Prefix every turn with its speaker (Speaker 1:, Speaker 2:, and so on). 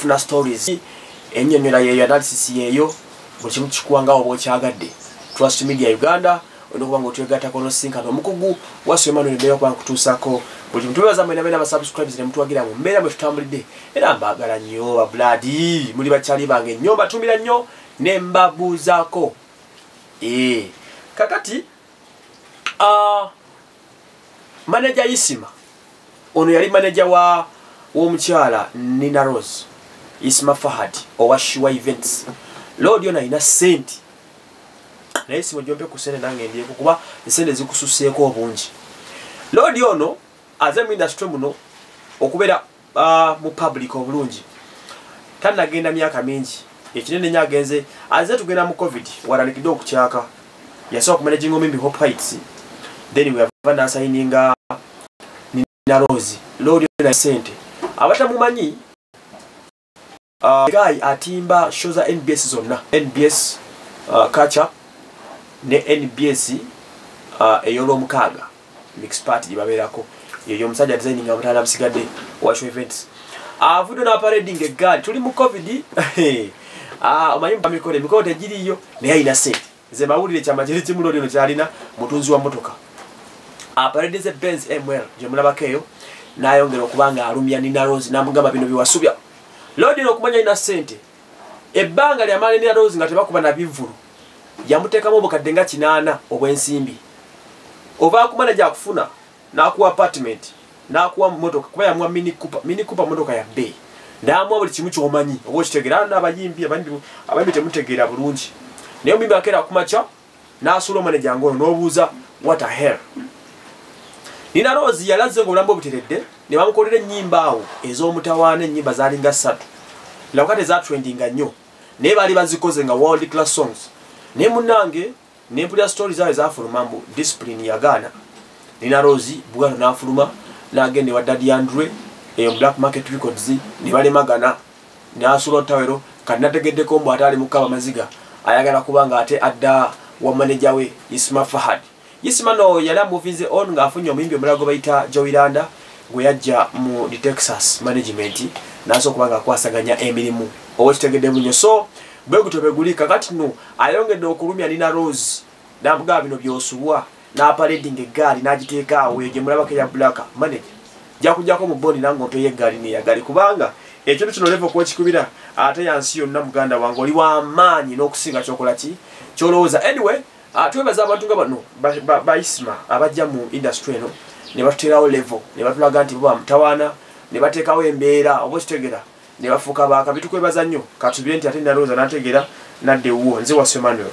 Speaker 1: funa stories enyonyola yeyo analysis yeyo buli kimu kikuwanga oba okyagadde trust media uganda olina okuba nga otwegatako nosinkana omukugu wasu emanuel mbeera okuba nkutuusako buli kimu tubebaza mwena beera basubscribes ne mutuwagira mu mbeera mwe tutambulidde era mbaagala nnyo babuladi muli bakyali bange nnyo mbatumira nnyo ne mbabuuzaako ee eh, kakati ah, manager isima ono yali manager wa womukyala nina rose isima fahad owa shiwa events lord ono alina sente naye sima jompe ku sente nange ndiyeko kuba nsente zikususeeko obungi lord ono aze mu industry muno okubeera uh, mu public obulungi tanagenda myaka mingi ekinene nyo agenze aze tugenda mu covid waranikide okukyaka yasobola kumanajinga omimbi hope heights then weyava nasayininga nina rose lolyo na sente abatamumanyi Uh, guy atimba show za nbs zonna nbs uh, kacha ne nbs uh, eyolwomukaaga mix party gyebabeerako yeyo omusajja designing abutala busigadde washo events avudde napareding egaali tuli mu covid ah, omanyi mukolo emikolo tegiriyo naye alina sente Nze mawulire kyama kiri kimu lori ono kyalina mutunzi wa motoka. Aparedeze Benz ML gye mulabako eyo n'ayongera okuba nga alumya Nina Rose n'amugamba bino biwasubya. Lodi ono okumanya alina ssente ebbanga lyamala Nina Rose nga tebakuba na bivvulu yamuteekamu obukadde nga kinaana obw'ensimbi. Ovaakuma ne gyakufuna. nakuwa apartment nakuwa motoka kuba yamuwa mini cooper mini cooper motoka ya bay namuwa buli kimu kyomanyi oba okitegera ano abayimbi abandi abandi temutegeera bulungi naye omuyimbi akeera kumakya nasuula omaneja ngono nobuuza what a hell nina rose yalaze nga obulamu obuteredde ne bamukolera ennyimba awo ez'omutawaana ennyimba zaalinga ssatu labuka tezatrendinga nnyo naye baali bazikoze nga world class songs naye munange nempulira story zawe zafuluma mbu discipline yagaana nina rosi buganda nafuluma nagenda ewa dadi andre eyo black market records nebalemagana nasula otawero kati nategeddeko mbu ate ali mukaba maziga ayagala kuba nga ate adda wa manaja we isma fahad isma no yali amuvinze on ngaafunye omuyimbi omulala gwe bayita joiranda gwe yajja mu the texas management nasobola okuba nga akwasaganya emirimu owekitegedde bunyo so bwegutyo beguli kakati no Ayongedde okulumya Nina Rose n'amugamba bino by'osubwa n'apaledinga eggaali n'agiteeka awo eyo gye mulabako eya Black manager jakujako mu boni nange ompeyo eggaali neyagali kubanga ekintu kino levo kwekikubira ate yansi yonna muganda wange oli wamaanyi n'okusinga kyokola ki kyolowooza anyway ah, twebaza abantu nga bano baisma abajja mu industry eno ne batuterawo levo ne batulaga nti bo bamutawaana ne bateekawo embeera oba okitegera nebafuuka baakabi tukwebaza nnyo katubire nti ate nalowooza nategera nadda ewuwo nze wasu emmanuel